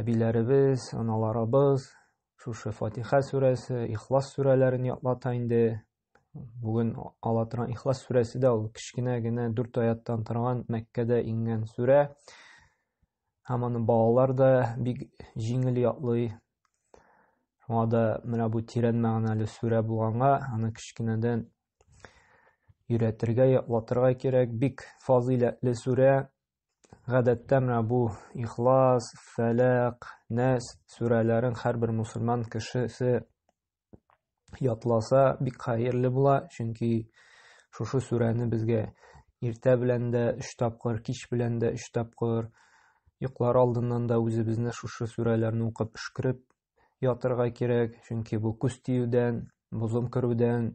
әбиләребез, аналарыбыз шушы Фатиха сүрәсе, Ихлас сүрәләрен ятлата инде. Бүген ала торган Ихлас сүрәсе дә ул кечкенә генә дүрт аяттан торган Мәккәдә иңгән сүрә. Һәм аны балалар да бик җиңел ятлый. Шуңа да менә бу тирән мәгънәле сүрә булганга, аны кечкенәдән өйрәтергә, ятлатырга кирәк. Бик фазыйләтле сүрә, Гадәттә менә бу Ихлас, Фәләк, Нәс сүрәләрен һәрбер мусульман кешесе ятласа бик хәерле була, чөнки шушы сүрәне безгә иртә белән дә 3 тапкыр, кич белән дә 3 тапкыр, йоклар алдыннан да үзебезне шушы сүрәләрне укып өшкереп ятырга кирәк, чөнки бу күз тиюдән, бозым керүдән,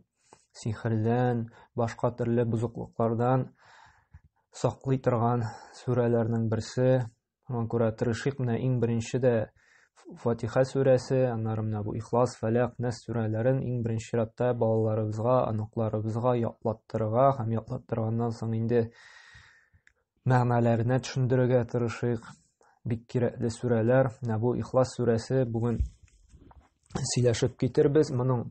сихердән, башка төрле бозыклыклардан саклый торган сүрәләрнең берсе. Шуңа күрә тырышыйк менә иң беренче дә Фатиха сүрәсе, аннары менә бу Ихлас, Фәләк, Нәс сүрәләрен иң беренче чиратта балаларыбызга, оныкларыбызга ятлаттырырга һәм ятлаттырганнан соң инде мәгънәләренә төшендерергә тырышыйк. Бик кирәкле сүрәләр. Менә бу Ихлас сүрәсе бүген сөйләшеп китербез. Моның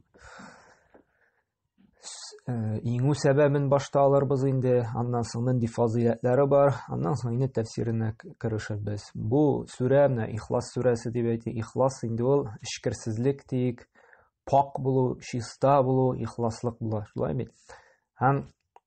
э, иңү сәбәбен башта алырбыз инде, аннан соң нинди фазыйләтләре бар, аннан соң инде тәфсиренә керешербез. Бу сүрә менә Ихлас сүрәсе дип әйтә. Ихлас инде ул эчкерсезлек диик, пак булу, чиста булу, ихласлык була. Шулай бит? Һәм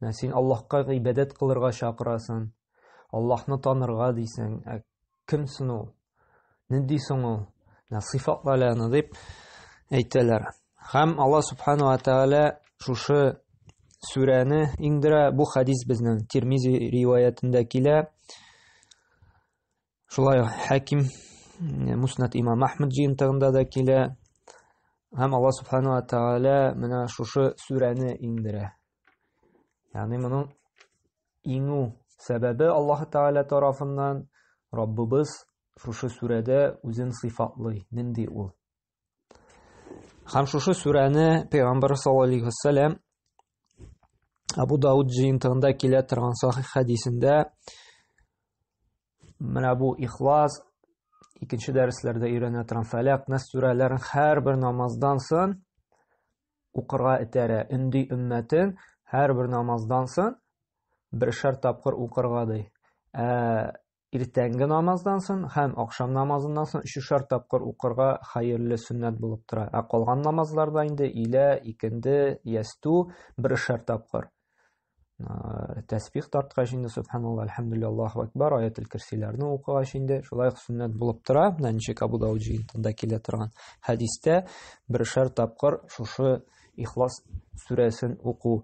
Менә син Аллаһка гыйбадәт кылырга чакырасын, Аллаһны танырга дисең, ә кем соң ул? Нинди соң ул? Менә сыйфатлар аны дип әйтәләр. Һәм Аллаһ субхану ва тааля шушы сүрәне иңдерә. Бу хадис безнең Тирмизи риваятендә килә. Шулай хәким Муснат имам Ахмад җыентыгында да килә. Һәм Алла субхану ва тааля менә шушы сүрәне иңдерә. Ягъни моның иңү сәбәбе Аллаһ тааля тарафыннан Раббыбыз шушы сүрәдә үзен сыйфатлый. Нинди ул? Һәм шушы сүрәне Пәйгамбәр саллаллаһу алейхи вәссәлам Абу Дауд җыентыгында килә торган сахих хәдисендә менә бу ихлас икенче дәресләрдә өйрәнә торган фәләк нас сүрәләрен һәрбер намаздан соң укырга этәрә өнди өммәтен һәрбер намаздан соң бершәр тапкыр укырга ди ә иртәнге намаздан сон һәм ахшам намазыннан сон өчешәр тапкыр укырга хәерле сөннәт булып тора. Ә калган намазларда инде илә, икенде, ясту берешәр тапкыр. Тәсбих тарткач инде субханалла, әлхәмдулилла, Аллаһу акбар, аятел кирсиләрне укыгач инде шулай ук сөннәт булып тора. Менә ничек Абу Дауд җыентында килә торган хәдистә берешәр тапкыр шушы Ихлас сүрәсен уку.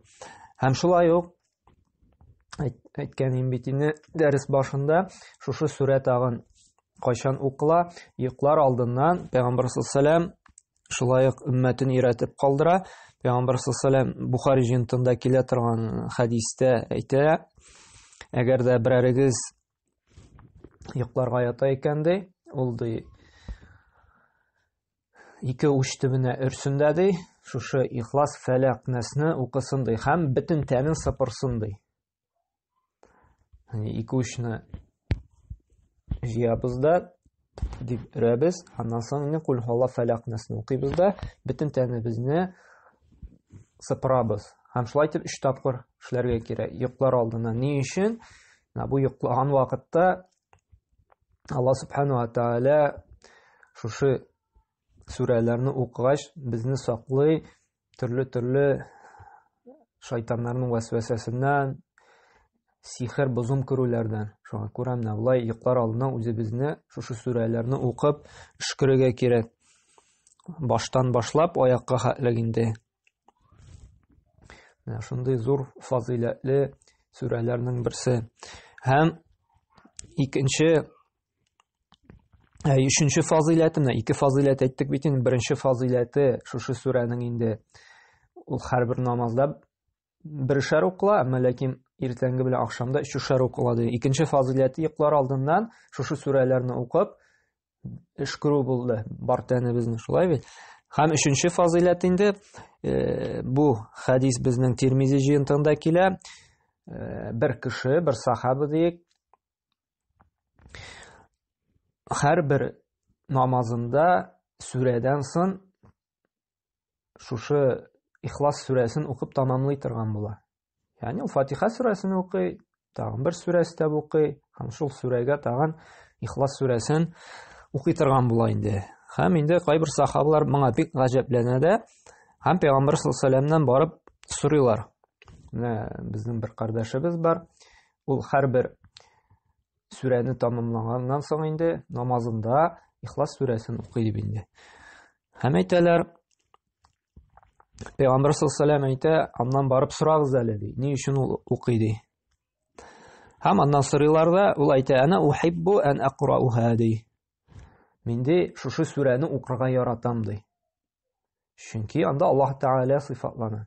Һәм шулай ук әйткән идем бит инде дәрес башында шушы сүрә тагын кайчан укыла йоклар алдыннан пәйгамбәр саллаллам шулай ук өммәтен өйрәтеп калдыра пәйгамбәр саллаллам бухари җентында килә торган хәдистә әйтә әгәр дә берәрегез йокларга ята икән ди ул ди ике уч төбенә өрсен дә ди, шушы ихлас фәләк нәсне укысын ди һәм бөтен тәнен сыпырсын ди. Яни ике учны җыябыз да дип өрәбез, аннан соң инде кул һала фәләк нәсне укыйбыз да, бөтен тәнебезне сыпырабыз. Һәм шулай итеп өч тапкыр эшләргә кирәк. Йоклар алдына. Ни өчен? Менә бу йоклаган вакытта Алла субхану ва тааля шушы сүрәләрне укыгач безне саклый төрле-төрле шайтаннарның вәсвәсәсеннән, сихер бозым күрүләрдән. Шуңа күрә менә болай йоклар алдына үзебезне шушы сүрәләрне укып өшкерергә кирәк. Баштан башлап аякка хәтлек инде Менә шундый зур фазыйләтле сүрәләрнең берсе. Һәм икенче ә, өченче фазыйләте менә ике фазыйләт әйттек бит инде. Беренче фазыйләте шушы сүрәнең инде ул һәрбер намазда бершәр укла, әмма ләкин иртәнге белән ахшамда өчешәр укла ди. Икенче фазыйләте йоклар алдыннан шушы сүрәләрне укып эш күрү булды. Бар тәнебезне шулай бит. Һәм өченче фазыйләт инде э, бу хәдис безнең Тирмизи җыентыгында килә. Э, бер кеше, бер сахабы диек. Һәр бер намазында сүрәдән сон шушы Ихлас сүрәсен укып тамамлый торган була. Ягъни ул Фатиха сүрәсен укый, тагын бер сүрә өстәп укый һәм шул сүрәгә тагын ихлас сүрәсен укый торган була инде һәм инде кайбер сахабалар моңа бик гаҗәпләнә дә һәм пәйгамбәр саллаллаху барып сорыйлар менә безнең бер кардәшебез бар ул һәрбер сүрәне тәмамлаганнан соң инде намазында ихлас сүрәсен укый дип инде Һәм әйтәләр, Пәйгамбәр саллаллаху әйтә, аннан барып сорагыз әле ди. Ни өчен ул укый ди? Һәм аннан сорыйлар да, ул әйтә, "Ана ухиббу ан акрауха" ди. Мин ди, шушы сүрәне укырга яратам ди. Чөнки анда Аллаһ Тәгалә сыйфатлана.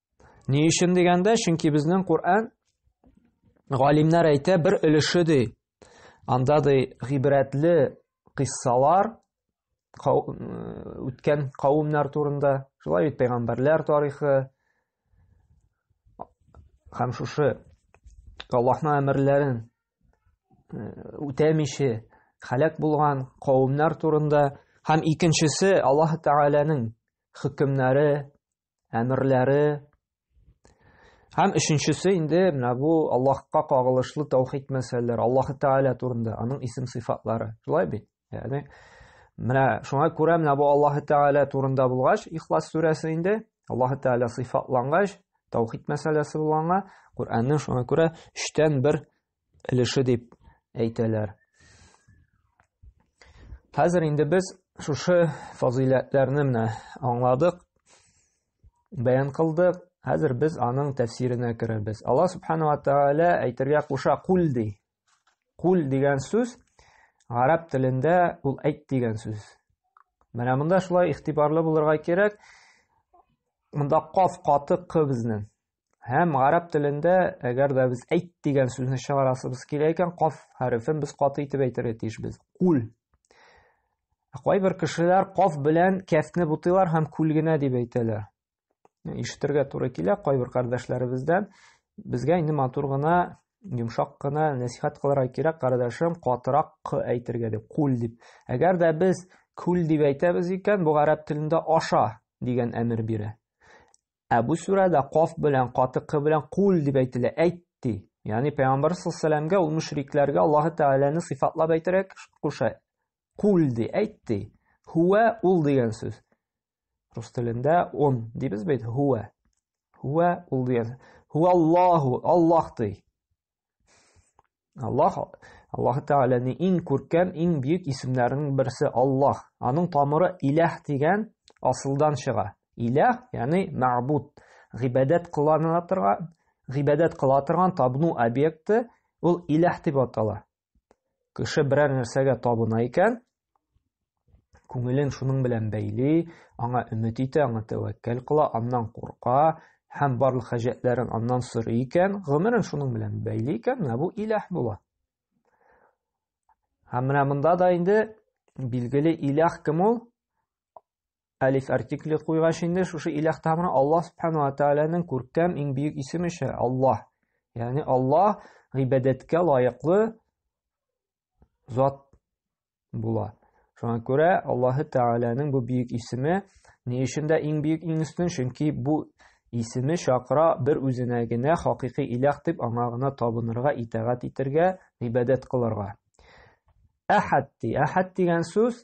Ни өчен дигәндә, чөнки безнең Коръән галимнәр әйтә бер өлеше ди. Анда ди гыйбрәтле кыссалар үткән кавымнар турында, шулай бит пәйгамбәрләр тарихы һәм шушы Аллаһның әмерләрен үтәмичә халәк булган кавымнар турында һәм икенчесе Аллаһ Тәгаләнең хөкемнәре әмерләре һәм өченчесе инде менә бу Аллаһка кагылышлы таухид мәсьәләләре, Аллаһ Тааля турында, аның исем сыйфатлары. Шулай бит? Ягъни менә шуңа күрә менә бу Аллаһ Тааля турында булгач, Ихлас сүрәсе инде Аллаһ Тааля сыйфатлангач, таухид мәсьәләсе булганга, Куранның шуңа күрә 3 бер өлеше дип әйтәләр. Хәзер инде без шушы фазыйләтләрне менә аңладык, бәян кылдык. Хәзер без аның тәфсиренә керәбез. Алла субхана ва тааля әйтергә куша кул ди. Кул дигән сүз гарәп телендә ул әйт дигән сүз. Менә монда шулай ихтибарлы булырга кирәк. Монда каф каты к безнең. Һәм гарәп телендә, әгәр дә без әйт дигән сүзне чыгарасыбыз килә икән, каф хәрефен без каты итеп әйтергә тиешбез. Кул. Ә кайбер кешеләр каф белән кәфне бутыйлар һәм күл генә дип әйтәләр. Ишетергә туры килә кайбер кардәшләребездән. Безгә инде матур гына, йомшак кына нәсихәт кылырга кирәк, кардәшем, катырак к әйтергә дип, кул дип. Әгәр дә без күл дип әйтәбез икән, бу гарәп телендә аша дигән әмер бирә. Ә бу сүрәдә каф белән, каты к белән кул дип әйтелә, әйт ди. Ягъни пәйгамбәр саллаллаһу ул мөшрикләргә Аллаһы Тәгаләне сыйфатлап әйтәрәк куша. Кул ди, әйт ди. Һуә ул дигән сүз. Рус телендә он дибез бит, һуа. Һуа ул дигән. Һуа Аллаһу, Аллаһ ди. Аллаһ Аллаһ Тәгаләнең иң күркәм, иң бөек исемнәренең берсе Аллаһ. Аның тамыры Иләһ дигән асылдан чыга. Иләһ, ягъни мәгъбуд, гыйбадәт кылана торган, гыйбадәт кыла торган табну объекты, ул Иләһ дип атала. Кеше берәр нәрсәгә табына икән, күңелен шуның белән бәйли, аңа өмет итә, аңа тәвәккәл кыла, аннан курка һәм барлык хаҗәтләрен аннан сорый икән, гомерен шуның белән бәйли икән, менә бу иләһ була. Һәм менә монда да инде билгеле иләһ кем ул? Әлиф артикле куйгач инде шушы иләх тамыры Аллаһ субхану ва тааляның күркәм иң бөек исеме ше Аллаһ. Ягъни Аллаһ гыйбадәткә лаеклы зат була. Шуңа күрә Аллаһ Тәгаләнең бу бөек исеме ни өчен дә иң бөек иң өстен, чөнки бу исеме чакыра бер үзенә генә хакыйкый иләх дип аңа гына табынырга, итагать итәргә, гыйбадәт кылырга. Әхәд ди. Әхәд дигән сүз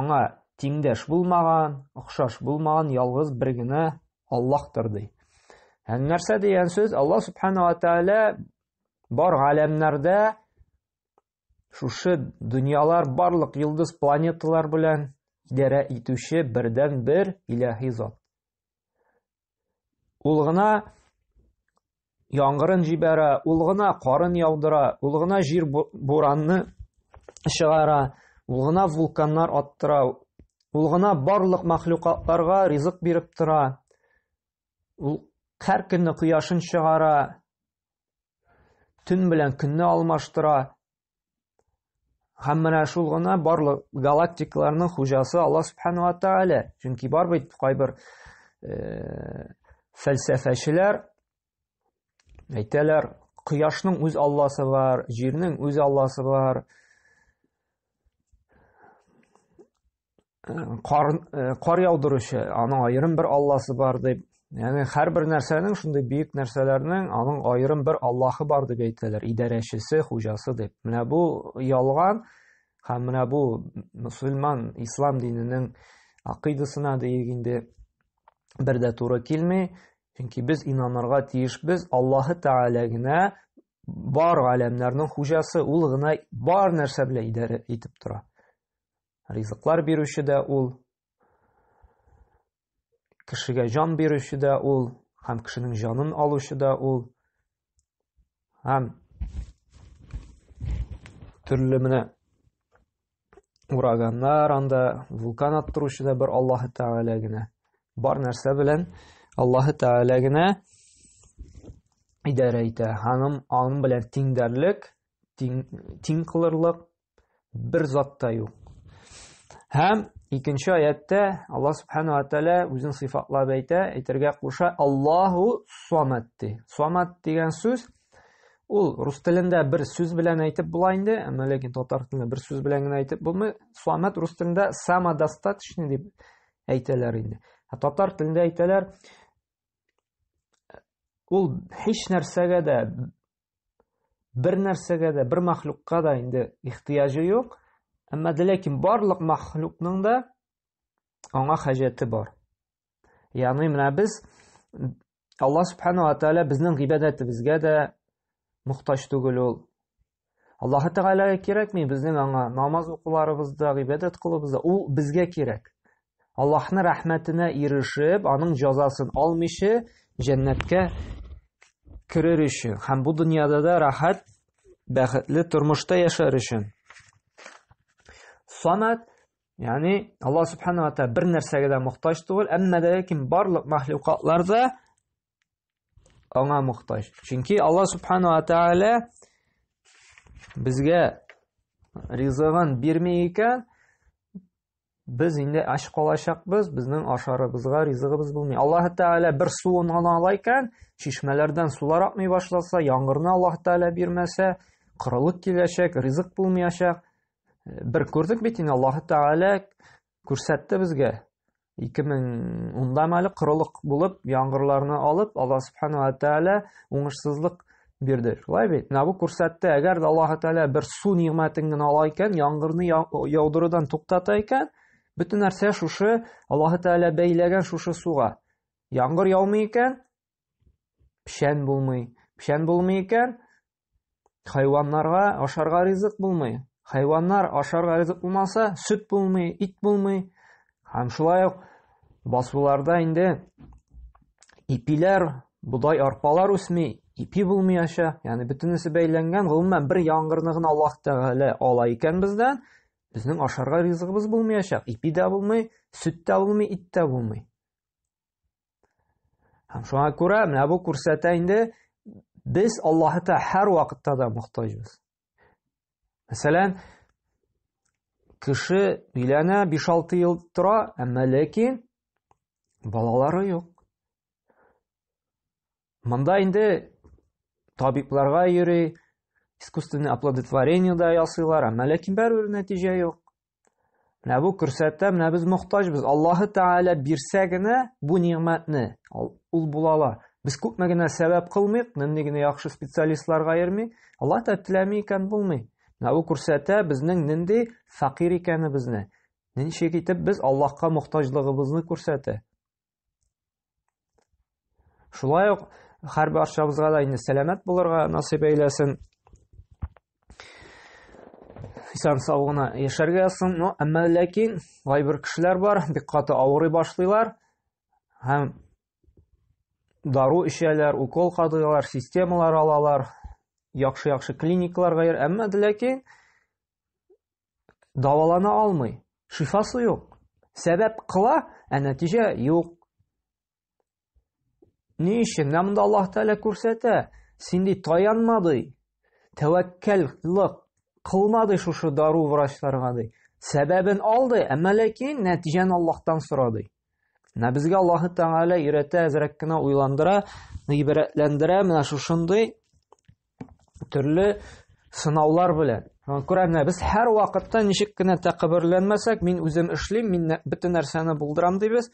Аңа тиңдәш булмаган, охшаш булмаган ялгыз бер генә Аллаһтыр ди. Һәм нәрсә дигән сүз? Аллаһ субхана ва тааля бар галәмнәрдә шушы дөньялар барлык йолдыз планеталар белән идарә итүче бердән бер иләһи зат. Ул гына яңгырын җибәрә, ул гына карын яудыра, ул гына җир буранны чыгара, ул гына вулканнар аттыра, ул гына барлык мәхлукатларга ризык биреп тора. Ул һәр көнне кояшын чыгара, төн белән көнне алмаштыра, Һәм менә шул гына барлык галактикаларның хуҗасы Алла Субхану ва Тааля. Чөнки бар бит кайбер э, фәлсәфәчеләр әйтәләр, кояшның үз Алласы бар, җирнең үз Алласы бар. кар, кар яудыручы, аның аерым бер Алласы бар дип, яғни һәрбер нәрсәнең шундый бөек нәрсәләрнең аның аерым бер Аллаһы бар дип әйтәләр, идарәчесе, хуҗасы дип. Менә бу ялган һәм менә бу мусульман ислам диненең акыйдасына диек инде бер дә туры килми. Чөнки без инанырга тиешбез Аллаһы Тәгалә генә бар галәмнәрнең хуҗасы, ул гына бар нәрсә белән идарә итеп тора. Ризыклар бирүче дә ул, кешегә җан бирүче дә ул, һәм кешенең җанын алучы да ул. Һәм төрле менә ураганнар анда, вулкан аттыручы да бер Аллаһы Тәгалә генә. Бар нәрсә белән Аллаһы Тәгалә генә идарә итә. Ханым аның белән тиңдәрлек, тиң, тиң кылырлык Бер зат та юк. Һәм икенче аятта Аллаһ субхана ва тәгалә үзен сыйфатлап әйтә, әйтергә куша, Аллаһу Самат ди. Самат дигән сүз ул рус телендә бер сүз белән әйтеп була инде, әмма ләкин татар телендә бер сүз белән генә әйтеп булмый. Самат рус телендә самодостаточный дип әйтәләр инде. Ә татар телендә әйтәләр ул һич нәрсәгә дә бер нәрсәгә дә бер мәхлукка да инде ихтыяҗы юк әмма ләкин барлык мәхлукның да аңа хаҗәте бар ягъни менә без алла субханала тәгалә безнең гыйбадәтебезгә дә мохтаҗ түгел ул аллаһы тәгаләгә кирәкми безнең аңа намаз укуларыбыз да гыйбадәт кылуыбыз да ул безгә кирәк Аллаһны рәхмәтенә ирешеп, аның җазасын алмыйча җәннәткә керер өчен һәм бу дөньяда да рәхәт, бәхетле тормышта яшәр өчен. Самат, ягъни Аллаһ субханаһу ва тааля бер нәрсәгә дә мохтаҗ түгел, әмма дә ләкин барлык мәхлукатларда аңа мохтаҗ. Чөнки Алла субхану ва тааля безгә ризыгын бирми икән, без инде ач калачакбыз, безнең ашарыбызга ризыгыбыз булмый. Аллаһ тааля бер суын гына ала икән, чишмәләрдән сулар акмый башласа, яңгырны Аллаһ тааля бирмәсә, кырылык киләчәк, ризык булмаячак. Бер күрдек бит инде Аллаһ тааля Күрсәтте безгә 2010-дам әле корылык булып, яңгырларны алып, Алла субхану ва тааля уңышсызлык бирде. Шулай бит? Менә бу күрсәтте, әгәр дә Аллаһ тааля бер су нигъмәтен генә ала икән, яңгырны яудырудан туктата икән, бөтен нәрсә шушы Аллаһ тааля бәйләгән шушы суга. Яңгыр яумый икән, печән булмый. Печән булмый икән, хайваннарга ашарга ризык булмый. Хайваннар ашарга ризык булмаса, сөт булмый, ит булмый. Һәм шулай ук басуларда инде ипиләр, бодай, арпалар үсми, ипи булмыйача, ягъни бөтенесе бәйләнгән, гомумән бер яңгырны гына Аллаһ Тәгалә ала икән бездән, безнең ашарга ризыгыбыз булмыйачак, ипи дә булмый, сөт тә булмый, ит тә булмый. Һәм шуңа күрә менә бу күрсәтә инде без Аллаһыта һәр вакытта да мохтаҗбыз. Мәсәлән, кеше өйләнә 5-6 ел тора, әмма ләкин балалары юк. Монда инде табибларга йөри, искусственный оплодотворение да ясыйлар, әмма ләкин бәрүр нәтиҗә юк. Менә бу күрсәтә, менә без мохтаҗбыз. Аллаһы Тәгалә бирсә генә бу нигъмәтне, ул була ала. Без күпме генә сәбәп кылмыйк, нинди генә яхшы специалистларга йөрмик, Алла Тәгалә теләми икән булмый. Менә бу күрсәтә безнең нинди факир икәнебезне. Ничек итеп без Аллаһка мохтаҗлыгыбызны күрсәтә. Шулай ук һәр барчабызга да инде сәламәт булырга насыйп әйләсен. Исән сау гына яшәргә язсын. Но әмма ләкин кайбер кешеләр бар, бик каты авырый башлыйлар һәм дару эчәләр, укол кадыйлар, системалар алалар, яхшы-яхшы клиникаларга йөр. Әмма ләкин дәвалана алмый, шифасы юк. Сәбәп кыла, ә нәтиҗә юк. Ни өчен? Менә монда Аллаһ Тәгалә күрсәтә. Син ди таянма ди. Тәвәккәллек кылма ди шушы дару врачларга ди. Сәбәбен алды, әмма ләкин нәтиҗәне Аллаһтан сорады. Менә безгә Аллаһы Тәгалә өйрәтә, әзрәк кенә уйландыра, гыйбрәтләндерә менә шушындый төрле сынаулар белән. Күрә менә без һәр вакытта ничек кенә тәкәбберләнмәсәк, мин үзем эшлим, мин бөтен нәрсәне булдырам дибез.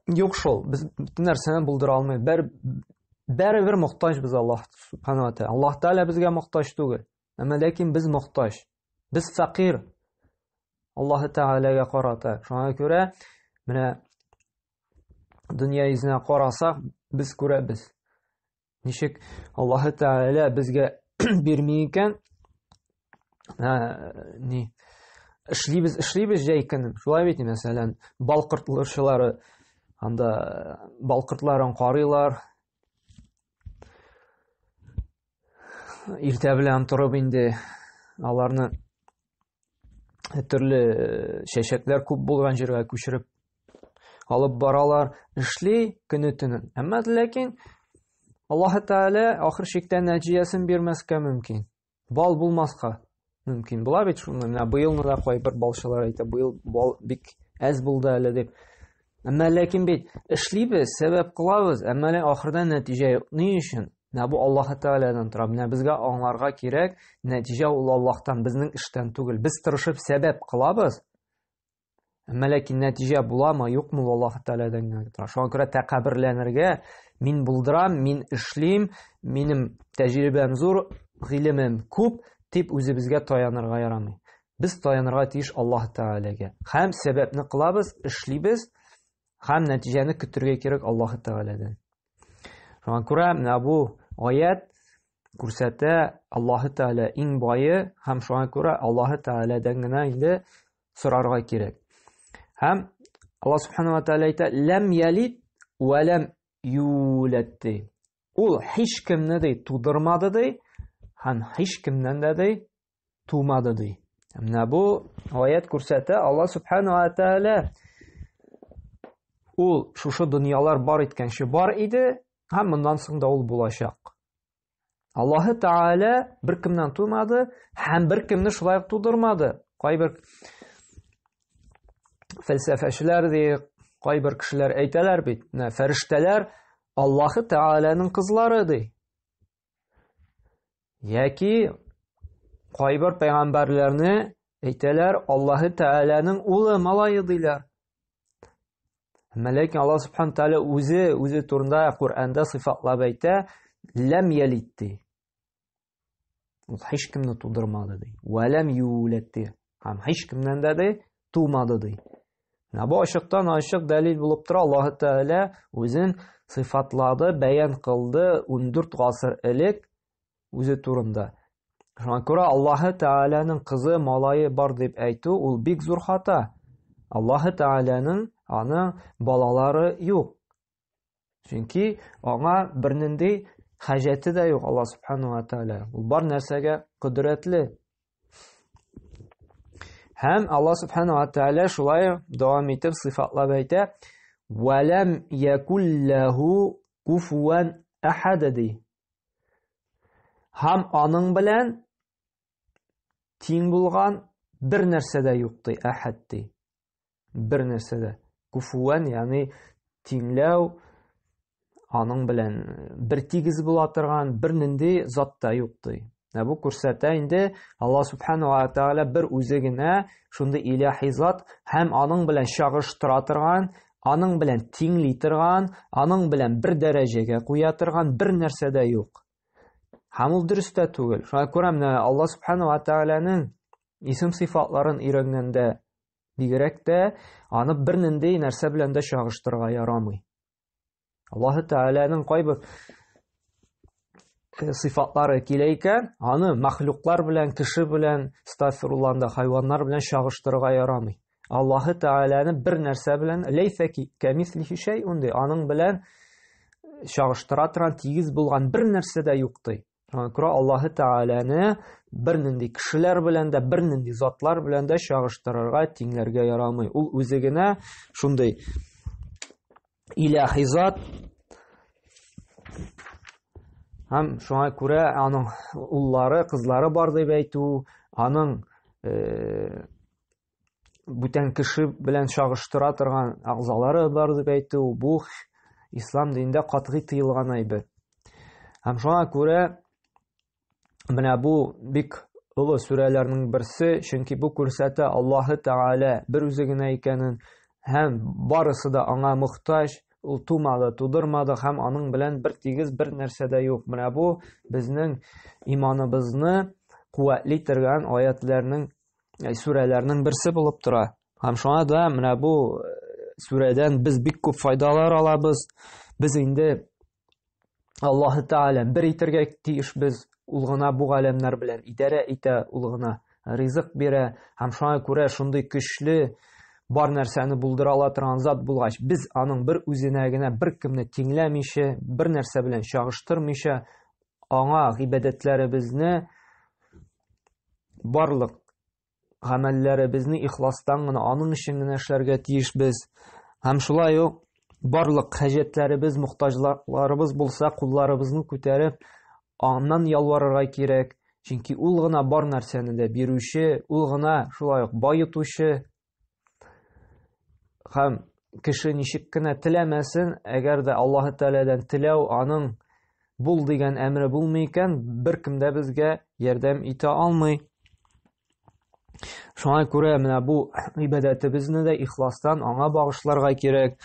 Юк шул, без бөтен нәрсәне булдыра алмыйбыз. Бер бәребер мохтаҗбыз Аллаһ Субханаһу ва Тәгалә. Аллаһ Тәгалә безгә мохтаҗ түгел. Әмма ләкин без мохтаҗ. Без фәкыйр. Аллаһы Тәгаләгә карата. Шуңа күрә менә дөнья йөзенә карасак, без күрәбез. Ничек Аллаһы Тәгалә безгә бирми икән? Ни? Эшлибез, эшлибез җәй көнен. Шулай бит, мәсәлән, бал кортлаучылары анда бал кортларын карыйлар, иртә белән торып инде аларны төрле э, чәчәкләр күп булган җиргә күчереп алып баралар эшли көне төнен әмма ләкин аллаһы тәгалә ахыр чиктә нәтиҗәсен бирмәскә мөмкин Бал булмаска мөмкин була бит шуны. Менә быелны да кайбер балчылар әйтә, быел бал бик әз булды әле дип. Әмма ләкин бит эшлибез, сәбәп кылабыз, әмма ләкин ахырда нәтиҗә юк. Ни өчен? Менә бу Аллаһ Тәгаләдән тора. Менә безгә аңларга кирәк, нәтиҗә ул Аллаһтан, безнең эштән түгел. Без тырышып сәбәп кылабыз, Әмма ләкин нәтиҗә буламы, юкмы Аллаһ Тәгаләдән генә тора. Шуңа күрә тәкәбберләнергә мин булдырам, мин эшлим, минем тәҗрибәм зур, гыйлемем күп дип үзебезгә таянырга ярамый. Без таянырга тиеш Аллаһ Тәгаләгә. Һәм сәбәпне кылабыз, эшлибез, һәм нәтиҗәне көтергә кирәк Аллаһ Тәгаләдән. Шуңа күрә менә бу аят күрсәтә Аллаһ Тәгалә иң бае һәм шуңа күрә Аллаһ Тәгаләдән генә инде сорарга кирәк. Һәм Алла Субхану Аталя әйтә, ләм ялит вә ләм юләт ди. Ул һич кемне ди тудырмады ди, һәм һич кемнән дә ди тумады ди. Менә бу аят күрсәтә, Алла Субхану Аталя ул шушы дөньялар бар иткәнче бар иде, һәм моннан соң да ул булачак. Аллаһы Тәгалә беркемнән тумады һәм беркемне шулай ук тудырмады. Кайбер фәлсәфәчеләр ди, кайбер кешеләр әйтәләр бит, менә фәрештәләр Аллаһы Тәгаләнең кызлары ди. Яки кайбер пәйгамбәрләрне әйтәләр Аллаһы Тәгаләнең улы, малае диләр. Әмма ләкин Аллаһ субхану тәгалә үзе үзе турында Коръәндә сыйфатлап әйтә, ләм ялид ди. Ул һич кемне тудырмады ди. Вә ләм юләд ди. Һәм һич кемнән дә ди, тумады ди. Менә бу ачыктан ачык дәлил булып тора, Аллаһ тәгалә үзен сыйфатлады, бәян кылды 14 гасыр элек үзе турында. Шуңа күрә Аллаһы Тәгаләнең кызы, малайы бар дип әйтү ул бик зур хата. Аллаһы Тәгаләнең аны балалары юк. Чөнки аңа бернинди хаҗәте дә юк Аллаһ Субхану ва Тәгалә. Ул бар нәрсәгә кодрәтле. Һәм Аллаһ Субхану ва Тәгалә шулай дәвам итеп сыйфатлап әйтә: "Валам якуллаху куфуан ахадди" Һәм аның белән тиң булган бер нәрсә дә юк ди, әхәд ди. Бер нәрсә дә. Куфуән, ягъни тиңләү, аның белән бер тигез була торган бер нинди зат та юк ди. Ә бу күрсәтә инде Алла субхану ва тааля бер үзе генә шундый илаһи зат һәм аның белән чагыштыра торган, аның белән тиңли торган, аның белән бер дәрәҗәгә куя торган бер нәрсә дә юк. Һәм ул дөрес тә түгел. Шуңа күрә менә Алла субхану ва тааляның исем сыйфатларын өйрәнгәндә бигрәк тә аны бернинди нәрсә белән дә чагыштырырга ярамый. Аллаһы Тәгаләнең кайбер э, сыйфатлары килә икән, аны мәхлуклар белән, кеше белән, стафирулланда хайваннар белән чагыштырырга ярамый. Аллаһы Тәгаләне бер нәрсә белән ләйсә кәмислихи шәй унди, аның белән чагыштыра торган тигез булган бер нәрсә дә юк ди. күрә Аллаһы Тәгаләне бернинди кешеләр белән дә, бернинди затлар белән дә чагыштырырга, тиңләргә ярамый. Ул үзе генә шундый иләһи зат, һәм шуңа күрә аның уллары, кызлары бар дип әйтү, аның э, бүтән кеше белән чагыштыра торган агъзалары бар дип әйтү бу ислам динендә катгый тыелган әйбер. Һәм шуңа күрә менә бу бик олы сүрәләрнең берсе, чөнки бу күрсәтә Аллаһы Тәгалә бер үзе генә икәнен һәм барысы да аңа мохтаҗ, ул тумады, тудырмады һәм аның белән бер тигез бер нәрсә дә юк. Менә бу безнең иманыбызны куәтли торган аятларның э, сүрәләрнең берсе булып тора. Һәм шуңа да менә бу э, сүрәдән без бик күп файдалар алабыз. Без инде Аллаһы Тәгалә бер итергә тиеш без. Ул гына бу галәмнәр белән идарә итә, ул гына ризык бирә. Һәм шуңа күрә шундый көчле бар нәрсәне булдыра ала торган зат булгач, без аның бер үзенә генә бер кемне тиңләмичә, бер нәрсә белән чагыштырмыйча, аңа гыйбадәтләребезне барлык гамәлләребезне ихластан гына, аның өчен генә эшләргә тиешбез. Һәм шулай ук барлык хаҗәтләребез, мохтаҗларыбыз булса, кулларыбызны күтәреп, аннан ялварырга кирәк. Чөнки ул гына бар нәрсәне дә бирүче, ул гына шулай ук баетучы, Хәм кеше ничек кенә теләмәсен, әгәр дә Аллаһ Тәгаләдән теләү аның бул дигән әмре булмый икән, беркем дә безгә ярдәм итә алмый. Шуңа күрә менә бу ибадәтебезне дә ихластан аңа багышларга кирәк.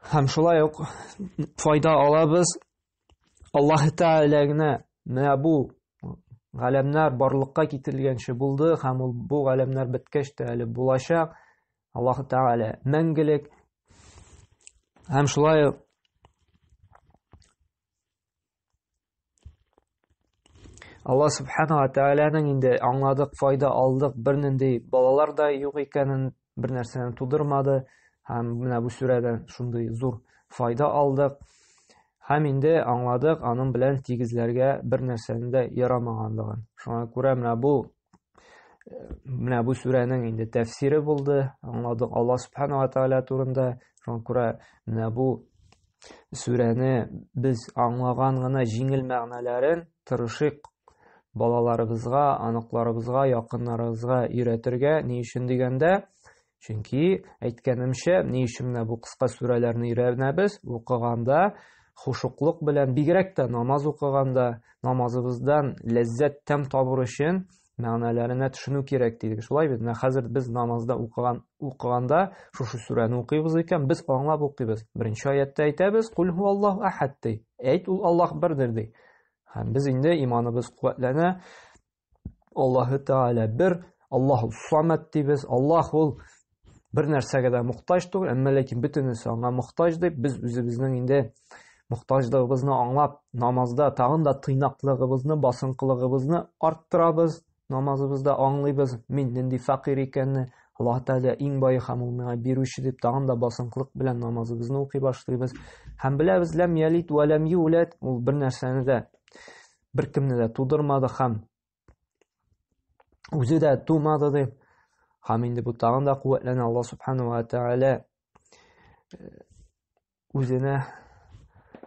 Һәм шулай ук файда алабыз. Аллаһ Тәгалә генә менә бу галәмнәр барлыкка китерелгәнче булды һәм ул бу галәмнәр беткәч тә әле булачак. Аллаһ Тәгалә мәңгелек. Һәм шулай ук Алла субхана ва тәгаләнең инде аңладык, файда алдык, бернинди балалар да юк икәнен, бер нәрсәне тудырмады һәм менә бу сүрәдән шундый зур файда алдык. Һәм инде аңладык, аның белән тигезләргә бер нәрсәнең дә ярамаганлыгын. Шуңа күрә менә бу менә бу сүрәнең инде тәфсире булды аңладык алла субханала тәала турында шуңа күрә менә бу сүрәне без аңлаган гына җиңел мәгънәләрен тырышыйк балаларыбызга аныкларыбызга якыннарыбызга өйрәтергә ни өчен дигәндә Чөнки, әйткәнемчә, ни өчен менә бу кыска сүрәләрне өйрәнәбез? Укыганда хушуклык белән, бигрәк тә намаз укыганда, намазыбыздан ләззәт тәм табыр өчен мәгънәләренә төшенү кирәк дидек. Шулай бит, менә хәзер без намазда укыган укыганда шушы сүрәне укыйбыз икән, без аңлап укыйбыз. Беренче аятта әйтәбез, "Кул ху Аллаһ ахад" ди. Әйт, ул Аллаһ бердер ди. Һәм без инде иманыбыз куәтләнә, Аллаһы Тәгалә бер, Аллаһу Самад дибез. Аллаһ ул бер нәрсәгә дә мохтаҗ түгел, әмма ләкин бөтенесе аңа мохтаҗ дип без үзебезнең инде мохтаҗлыгыбызны аңлап, намазда тагын да тыйнаклыгыбызны, басынкылыгыбызны арттырабыз. Намазыбызда аңлыйбыз, мин нинди фәкыйрь икәнне, Аллаһ Тәгалә иң бай һәм ул миңа бирүче дип тагын да басынкылык белән намазыбызны укый башлыйбыз. Һәм беләбез, ләм ялит вә ләм юләт, ул бер нәрсәне дә беркемне дә тудырмады һәм үзе дә тумады ди һәм инде бу тагын да куәтләнә алла субханала тәгалә э, үзенә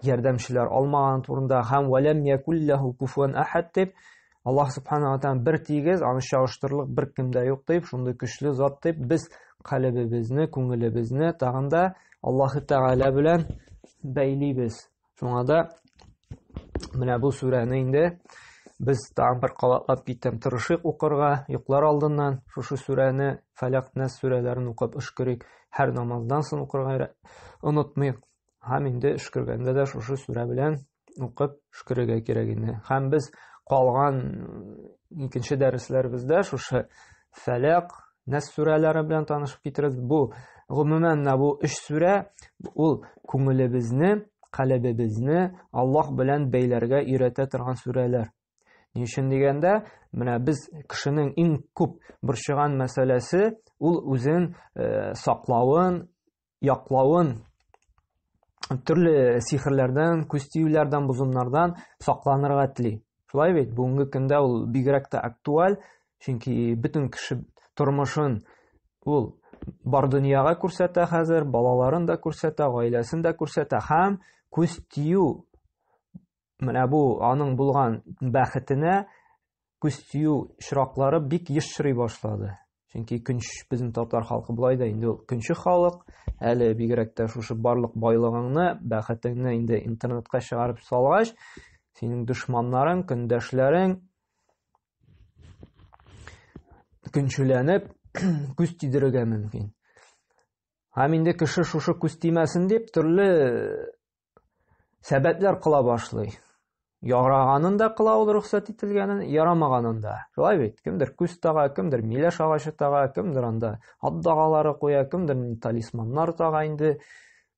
ярдәмчеләр алмаган турында һәм вәләм якулләһу куфуан әхәд дип аллаһ субханала тәгалә бер тигез аны чагыштырырлык беркем дә юк дип шундый көчле зат дип без калебебезне күңелебезне тагын да аллаһы тәгалә белән бәйлибез Шуңа да менә бу сүрәне инде без тагын бер кабатлап киттем. Тырышыйк укырга, йоклар алдыннан шушы сүрәне, Фәләк Нәс сүрәләрен укып өшкерик. Һәр намаздан соң укырга онытмыйк. Һәм инде өшкергәндә дә шушы сүрә белән укып өшкерергә кирәк инде. Һәм без калган икенче дәресләребездә шушы Фәләк, Нәс сүрәләре белән танышып китерегез. Бу гомумән менә бу өч сүрә ул күңелебезне, каләбебезне Аллаһ белән бәйләргә өйрәтә торган сүрәләр. Ни өчен дигәндә, менә без кешенең иң күп борчыган мәсьәләсе ул үзен э, саклавын, яклавын төрле сихерләрдән, күз тиюләрдән, бозымнардан сакланырга тели. Шулай бит, бүгенге көндә ул бигрәк тә актуаль, чөнки бөтен кеше тормышын ул бар дөньяга күрсәтә хәзер, балаларын да күрсәтә, гаиләсен дә күрсәтә һәм күз тию менә бу аның булган бәхетенә күз тию чираклары бик еш чырый башлады. Чөнки көнш безнең татар халкы болай да инде ул көнче халык, әле бигрәк тә шушы барлык байлыгыңны, бәхетеңне инде интернетка чыгарып салгач, синең дошманнарың, көндәшләрең көнчеләнеп күз тидерергә мөмкин. Һәм инде кеше шушы күз тимәсен дип төрле сәбәтләр кыла башлый. Яраганын да кыла ул рөхсәт ителгәнен, ярамаганын да. Шулай бит, кемдер күз тага, кемдер миләш агачы тага, кемдер анда ат дагалары куя, кемдер талисманнар тага инде.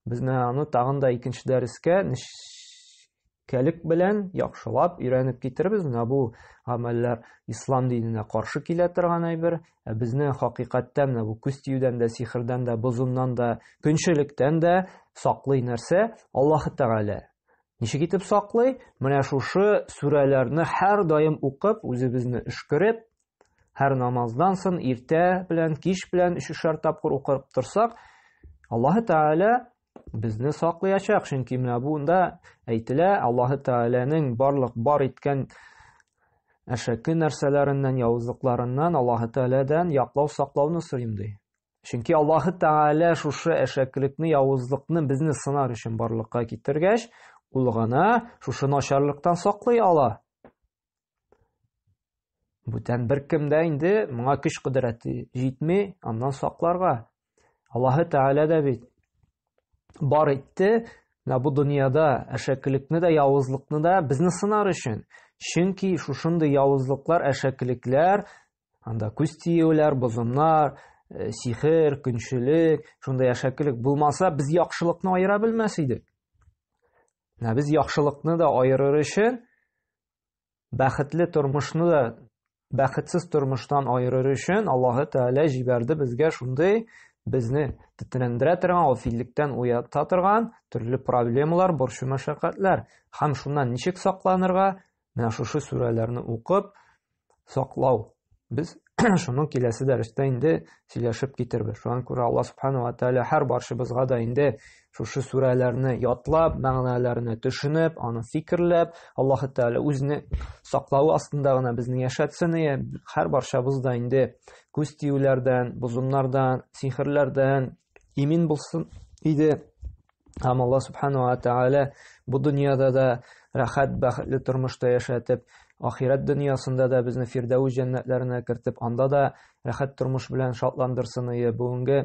Без менә аны тагын да икенче дәрескә нечкәлек белән яхшылап өйрәнеп китербез. Менә бу гамәлләр ислам диненә каршы килә торган әйбер, Ә безне хакыйкатьтән дә, бу күз тиюдән дә, сихрдән дә, бозуннан да, көнчелектән дә саклый нәрсә? Аллаһы Тәгалә. Ничек итеп саклый? Менә шушы сүрәләрне һәр даим укып, үзебезне өшкереп, һәр намаздан сон иртә белән, кич белән өчешәр тапкыр укып торсак, Аллаһы Тәгалә безне саклаячак, чөнки менә бунда әйтелә, Аллаһы Тәгаләнең барлык бар иткән әшәке нәрсәләреннән, явызлыкларыннан, Аллаһы Тәгаләдән яклау саклауны сорыйм ди. Чөнки Аллаһы Тәгалә шушы әшәкелекне, явызлыкны безне сынар өчен барлыкка китергәч, ул гына шушы начарлыктан саклый ала. Бүтән беркемдә инде моңа көч кодрәте җитми, аннан сакларга. Аллаһы Тәгалә дә бит бар итте, менә бу дөньяда әшәкелекне дә, явызлыкны да безне сынар өчен. Чөнки шушындый явызлыклар, әшәкелекләр, анда күз тиюләр, бозымнар, э, сихер, көнчелек, шундай әшәкелек булмаса, без яхшылыкны аера белмәс идек. Менә без яхшылыкны да аерыр өчен, бәхетле тормышны да бәхетсез тормыштан аерыр өчен Аллаһы Тәгалә җибәрде безгә шундый безне тетрәндерә торган, гафиллектән уята торган төрле проблемалар, борчу-мәшәкатьләр. Һәм шуннан ничек сакланырга? Менә шушы сүрәләрне укып саклау. Без шуның киләсе дәрестә инде сөйләшеп китербез. Шуңа күрә Алла субхана ва тааля һәр баршыбызга да инде шушы сүрәләрне ятлап, мәгънәләренә төшенеп, аны фикерләп, Аллаһ тааля үзне саклау астында гына безне яшәтсен и һәр баршабыз да инде күз тиюләрдән, бозымнардан, сихерләрдән, имин булсын иде һәм алла субханала тәғәлә бу дөньяда да рәхәт бәхетле тормышта яшәтеп ахирәт дөньясында да безне фирдәүс җәннәтләренә кертеп анда да рәхәт тормыш белән шатландырсын ие бүгенге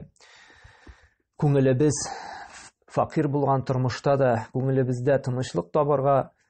күңелебез факир булган тормышта да күңелебездә тынычлык табарга